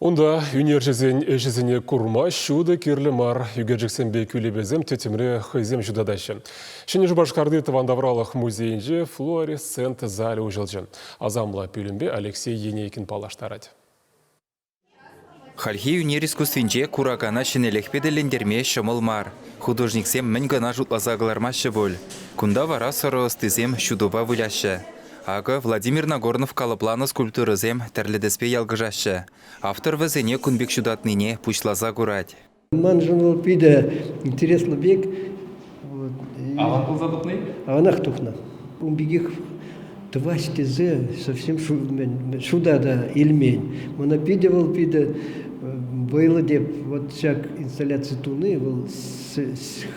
Унта ӳнерҫӗсен ӗҫӗсене курма ҫутӑ кирлӗ мар ӳкерчӗксемпе кӳлепесем тӗттӗмре хӑйсем ҫутатаҫҫӗ. Ҫӗнӗ Шупашкарти тӑван тавралӑх музейӗнче флуоресцент залӗ уҫӑлчӗ. Асамлӑ пӳлӗмпе Алексей Енейкин паллаштарать. Хальхи ӳнер искусствинче куракана ҫӗнӗлӗх педальлентерме ҫӑмӑл мар. Художниксем мӗн кӑна шутласа кӑлармаҫҫӗ пуль. Кунта вара сӑрӑ ӑстисем ҫутӑпа выляҫҫӗ. Акӑ, Владимир Нагорнов калӑпланӑ скульптурӑсем тӗрлӗ тӗспе ялкӑшаҫҫӗ. Автор вӗсене кун пек ҫутатнине пуҫласа курать. Маншӑн вӑл питӗ интереслӗ пек. Аван пулса тухнӑ-и? Аванах тухнӑ. Ун пекех тӑваҫ тесе совсем шута та илмен. Мана питӗ вӑл питӗ вӑйлӑ деп вот ҫак инсталляци туни вӑл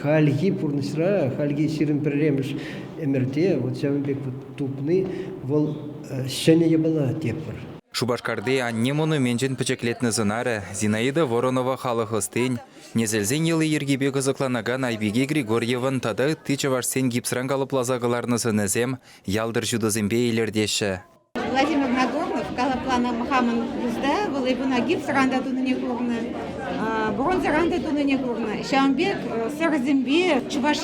Хальхи пурнӑҫра, хальхи ҫирӗм пӗрремӗш ӗмӗрте вот ҫавӑн пек вот тупни вӑл ҫӗнӗ япала тетпӗр. Шупашкарти Анне монуменчӗн пӗчӗклетнӗ сӑнарӗ Зинаида Воронова халӑх ӑстин, несӗлсен йӑли-йӗркипе кӑсӑкланакан Айпике Григорьевӑн тата ытти чӑвашсен гипсран калӑпласа кӑларнӑ сӑнӗсем ялтӑр ҫутӑсемпе илӗртеҫҫӗ. Владимир Нагорнов калӑпланӑ хамӑн вырӑста, вӑл эпона гипсран та тунине курнӑ, бронзӑран та тунине курнӑ. Ҫавӑн пек сӑрсемпе чӑваш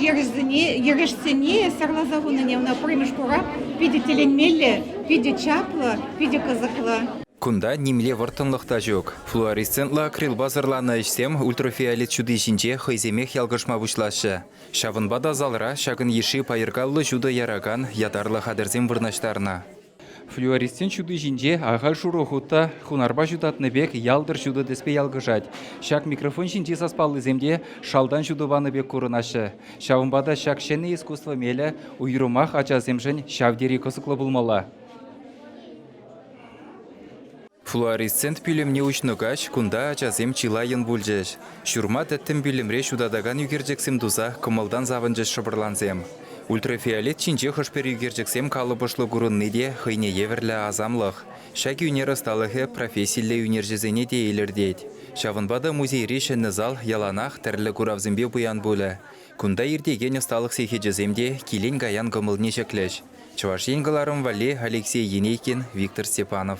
йӗрӗшсене сӑрласа хунине ӑна пӗрремӗш курав питӗ тӗлӗнмелле, питӗ чаплӑ, питӗ кӑсӑклӑ. Кунта нимле вӑрттӑнлӑх та ҫук. Флуоресцентла акрилпа сӑрланӑ ӗҫсем ультрафиолет ҫути ҫинче хӑйсемех ялкӑшма пуҫлаҫҫӗ. Ҫавӑнпа та залра ҫакӑн йышши пайӑркаллӑ ҫутӑ яракан ятарлӑ хатӗрсем вырнаҫтарнӑ. Флюорестсен ҫути ҫинче ахаль-шурӑ хут та хунарпа ҫутатнӑ пек ялтӑр ҫутӑ тӗспе ялкӑшать. Ҫак микрофон ҫинчи саспаллисем те шалтан ҫутӑ панӑ пек курӑнаҫҫӗ. Ҫавӑнпа та ҫак ҫӗнӗ искусство мелӗ уйрӑмах ачасемшӗн ҫав тери кӑсӑклӑ пулмалла. Флуоресцент пӳлӗмне уҫнӑ каҫ кунта ачасем чылаййӑн пулчӗҫ. Ҫурма тӗттӗм пӳлӗмре ҫутатакан ӳкерчӗксем тусах кӑмӑлтан савӑнчӗҫ шӑпӑрлансем. Ультрафиолет ҫинче хӑш-пӗр ӳкерчӗксем калӑпӑшлӑ курӑнни те хӑйне евӗрлӗ асамлӑх. Ҫак ӳнер ӑсталӑхӗ профессиллӗ ӳнерҫӗсене те илӗртет. Ҫавӑнпа та музейри ҫӗнӗ зал яланах тӗрлӗ куравсемпе пуян пулӗ. Кунта иртекен ӑсталӑх сехечӗсем те килен-каян кӑмӑлне ҫӗклӗҫ. Чӑваш Ен кӑларӑм валли Алексей Енейкин, Виктор Степанов.